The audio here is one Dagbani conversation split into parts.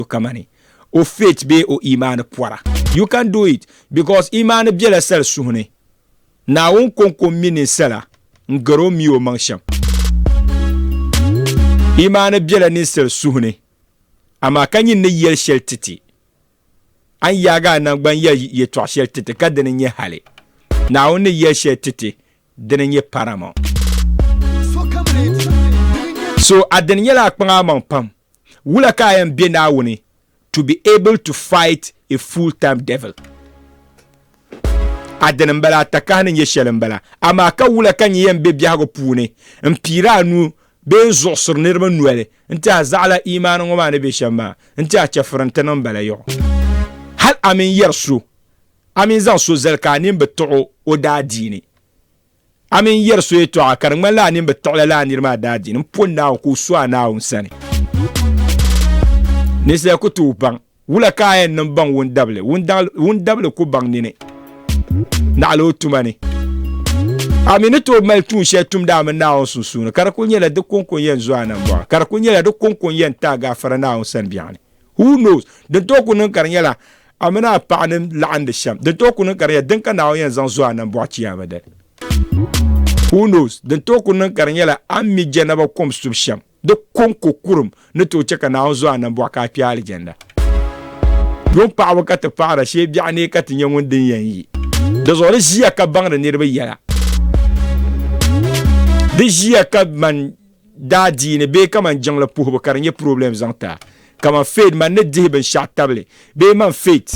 so kamani o faith bee o imaani pɔra. You can do it because imaani bela sali suhu ni. Naawuni kɔŋko m-mi ninsala n-gari o mi o maŋ shɛm. Imaani bela ninsal suhu ni, amaa ka nyin ni yɛli shɛli ti ti. A ni yaagi a naŋgban yɛli yɛtɔɣ shɛli ti ti ka dini nyɛ hali Naawuni ni yɛli shɛli ti ti, dini nyɛ paramount. So a dini nyɛla a kpaŋ a maŋ pam. Wula ka a yɛn be Naawuni to be able to fight a full time devil? A dini m-bala, a takahi ni nyɛ shɛli m-bala. Amaa ka wula ka n yɛn be biɛhigu puuni m-piiri a nuu bee n-zuɣisiri niriba noli n-ti a zaɣila iimaani ŋɔ maa ni be shɛm maa n-ti a chɛfuri nti niŋ m-bala yaɣu? Hal a mi n-yɛri so, a mi n-zaŋ so zali ka a nini bi tiɣ o o daadiini. A mi n-yɛri so yɛtɔɣa ka di ŋmanila a nini bi tiɣi lala a niri maa daadiini m-poni Naawuni ka o su a Naawuni sani. Ninsal ku tooi baŋ wula ka a yɛn niŋ baŋ wundabili, wundabili ku baŋ nini naɣila o tuma ni. A mi ni tooi mali tuun shɛli tumdi a mini Naawuni sunsuuni, ka di kuli nyɛla di kɔŋko n-yɛn zo a nambɔɣu, ka di kuli nyɛla di kɔŋko n-yɛn ti a gaafara Naawuni sani biɛɣuni. Who knows? Din tooi ku niŋ ka di nyɛla a mini a paɣa ni laɣindi shɛm. Din tooi ku niŋ ka di nyɛla din ka Naawuni yɛn zaŋ zo a nambɔɣu Chiyaama dali. Who knows? Din tooi ku niŋ ka di nyɛla a ni mi Jɛnaba kom subu shɛm. Di kɔŋko kurum ni tooi chɛ ka Naawuni zo a nambɔɣu ka a kpe Alijanda. Yuŋ paɣibu ka ti paɣira shee biɛɣu ni ka ti nya ŋun din yɛn yi. Dinzuɣu di ʒiya ka baŋdi niriba yɛla. Di ʒiya ka man. daadiini bee kaman jiŋli puhibu ka di nyɛ problem zaŋ ti a, kaman faith man ni dihi binshɛɣu tabili bee man faith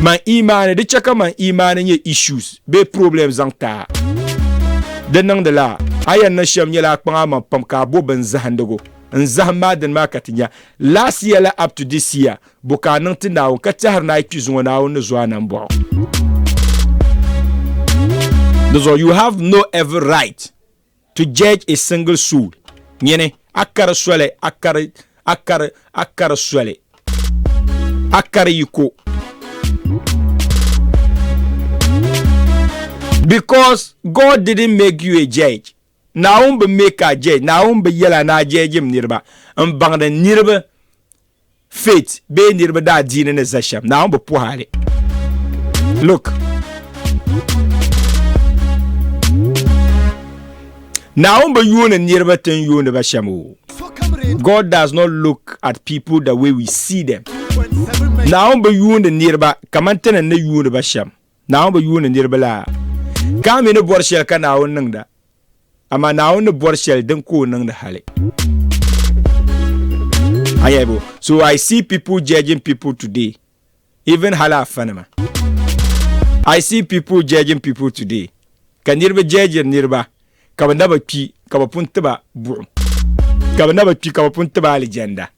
man imaani di chɛ ka man imaani nyɛ issues bee problem zaŋ ti a. Di niŋdila a yɛn niŋ shɛm nyɛla a kpaŋ a maŋ pam ka a bo bini zahindigu n zahim ma a dini maa ka ti nya last year la up to this year bo ka a niŋ ti Naawuni ka tɛhiri ni a yi kpi zuŋɔ Naawuni ni zo a nambɔɣu di zuɣu you have no every right To judge a single soul, nyini, a kari soli, a kari, a kari, a kari soli, a kari yiko. Because God didn't make you a judge. Naawuni bi make a judge, Naawuni bi yɛla ni a judge m niriba, m baŋdi niriba faith bee niriba daa diini ni za shɛm Naawuni bi puhi a li look Naawuni bi yuuni niriba ti n yuuni ba shɛm o God does not look at people the way we see them Naawuni bi yuuni niriba kaman ti ni ni yuuni ba shɛm Naawuni bi yuuni niriba la? Ka a mi ni bɔri shɛli ka Naawuni niŋda, amaa Naawuni ni bɔri shɛli din ka o niŋdi hali. A nya bo? So I see people judging people today, even hali afa nima. I see people judging people today, ka niriba judgiri niriba ka bɛ na bi kpi ka bɛ pun ti ba buɣim, ka bɛ na bi kpi ka bɛ pun ti ba alijanda.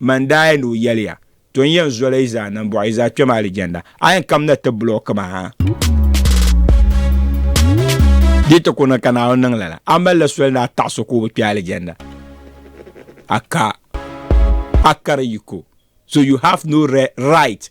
Man daa yɛn ni o yɛliya, To n yɛn zoli yi zaa niŋ bɔɣu yi zaa kpɛm alijanna, a yɛn kam na ti bili o kima ha. Di ti ku niŋ ka Naawuni niŋ lala, a malila soli ni a taɣi so ka o bi kpɛ alijanna? A ka, a kari yiko. So you have no right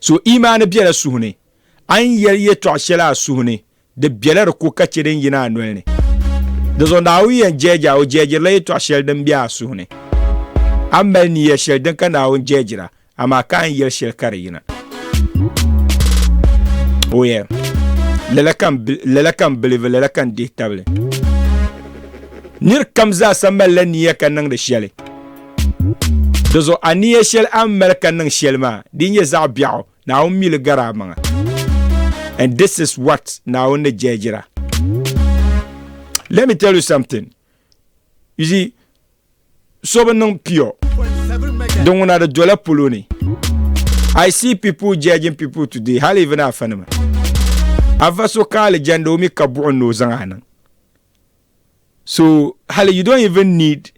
So imaani bela suhu ni, a ni yɛli yɛtɔɣ shɛli a suhu ni, di bela di ko ka chɛ din yina a noli ni. Dinzuɣu Naawuni yɛn jɛɛji a, o jɛɛjirila yɛtɔɣ shɛli din be a suhu ni. A mali niya shɛli din ka Naawuni jɛɛjir a, amaa ka a ni yɛli shɛli ka di yina. O yɛn, Lala ka n, lala ka n bilivi, lala ka n dihi tabili. Nir kam zaasa malila niya ka niŋdi shɛli. Dizuɣu aniya shɛli a ni mali ka niŋ shɛli maa, di nyɛ zaɣ biɛɣu, Naawuni mi li gari a maŋa. And this is what Naawuni ni jɛjira. Let me tell you something. You see, so bi niŋ pure. Di ŋuna di dola polo ni. I see people judging people today, hali even afa nima. Afa so ka alijanda o mi ka buɣim ni o zaŋ a niŋ. So hali you don't even need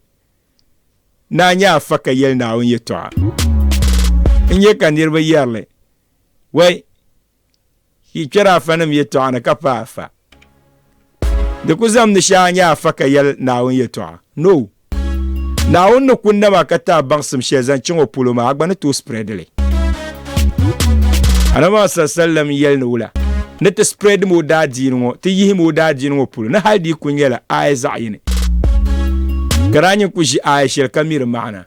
Naa nyɛ afa ka yɛli Naawuni yɛtɔɣa. N nyɛ ka niriba yɛrili, Wɛi, yi kpɛri afanim yɛtɔɣa ni ka paai afa. Di ku zamdi shee a nyɛ afa ka yɛli Naawuni yɛtɔɣa? No! Naawuni ni ku nam a ka ti a baŋsim shɛli zaŋ chaŋ o polo maa, a gba ni tooi spread li. anama sallam yɛli ni wula ni ti spread mo daa diini ŋɔ ti yihi mo daa diini ŋɔ polo ni hali di ku nyɛla aaya zaɣ yini ka daa nyin ku ʒi aaya shɛli ka miri maana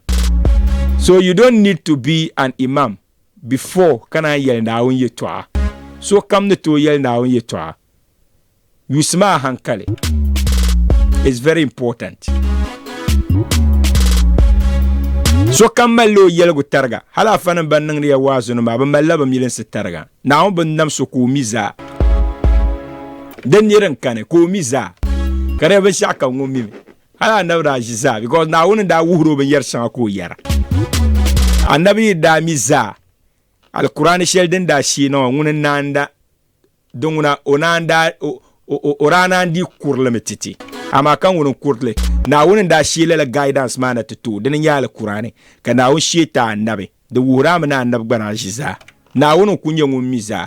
so you don't need to be an imam before ka naan yɛli naawuni yɛtɔɣa so kam ni tooi yɛli naawuni yɛtɔɣa Yusi maa hankali is very important. Sokam malila o yɛligu tariga, hali afanim ban niŋdi ya waazinima maa, bɛ malila bɛ milinsi tariga. Naawuni bi nam so ka o mi zaa. Di ni din kani, ka o mi zaa. Ka di nyɛ binshɛɣu kam ŋun mimi. Hali Annabi daa ʒi zaa because Naawuni ni daa wuhiri o binyɛri shɛŋa ka o yɛra. Annabi yi daa mi zaa, Alkur'aani shɛli din daa sheei na ŋɔ, ŋuni n-naanda? Di ŋuna o naan daa o daa naan dii kurili mi titi amaa ka ŋuni n-kurili Naawuni n-daa shee lala guidance maa na ti tooi dini n-nyɛ al Kur'ani ka Naawuni shee ti a Annabi di wuhiri a mi ni a Annabi gba daa ʒi zaa Naawuni n-kul nyɛ ŋun mi zaa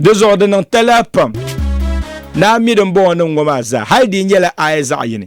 di zuɣu di niŋ talahi pam ni a mi din bɔŋɔ niŋ ŋɔ maa zaa hal di nyɛla aya zaɣ yini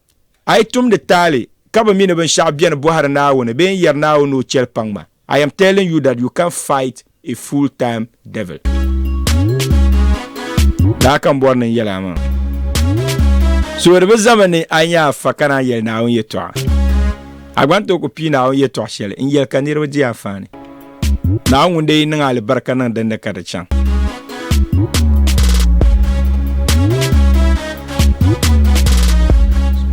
A yi tumdi taali ka bi mi ni binshɛɣu beni bɔhiri Naawuni bee n-yɛri Naawuni ni o chɛli paŋ ma, I am telling you that you can't fight a full time devil. Daa ka n bɔri ni n yɛli a maa. Suhuri bi zami ni a nya a fa ka naan yɛli Naawuni yɛtɔɣa. A gba ni tooi ku pii Naawuni yɛtɔɣ shɛli n-yɛli ka niriba di a faani. Naa ŋun dee niŋ alibarika niŋ dindi ka di chaŋ.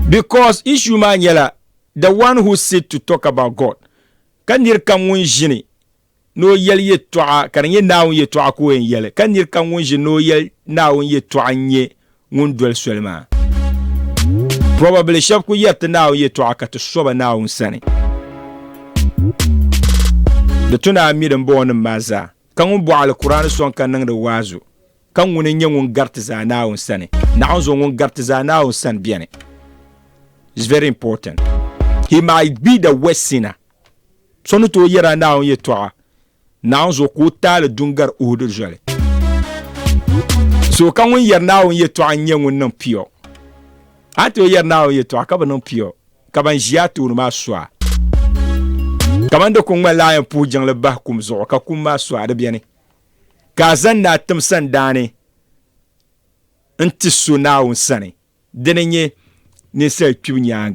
Because issue maa nyɛla the one who sit to talk about God ka niri kam ŋun ʒini ni o yɛli yɛtɔɣa ka di nyɛ naawuni yɛtɔɣa ka o yɛn yɛli ka niri kam ŋun ʒini ni o yɛli naawuni yɛtɔɣa n-nyɛ ŋun doli soli maa. Probably shɛb ku yɛri ti Naawuni yɛtɔɣa ka ti so ba Naawuni sani. Di tu ni a mi dimbɔŋɔnim maa zaa, ka ŋun bɔh Alkur'aani sɔŋ ka niŋdi waazu, ka ŋuni n-nyɛ ŋun gari ti zaa Naawuni sani? Naɣinzuŋ ŋun gari ti zaa Naawuni sani beni. It's very important. He might be the worst sinner. So ni tooi yɛri a Naawuni yɛtɔɣa Naawunzo ka o taali du n-gari Uhudi zoli. So ka ŋun yɛri Naawuni yɛtɔɣa n-nyɛ ŋun niŋ pio. A ni tooi yɛri Naawuni yɛtɔɣa ka bi niŋ pio, ka ban ʒi a tooni maa su a. Kaman di ku ŋmanila a yɛn puhi jiŋli bahi kum zuɣu ka kum maa su a di beni, ka a zaŋ naa tim sandaani n-ti so Naawuni sani, dini n-nyɛ ninsal kpibu nyaaŋa.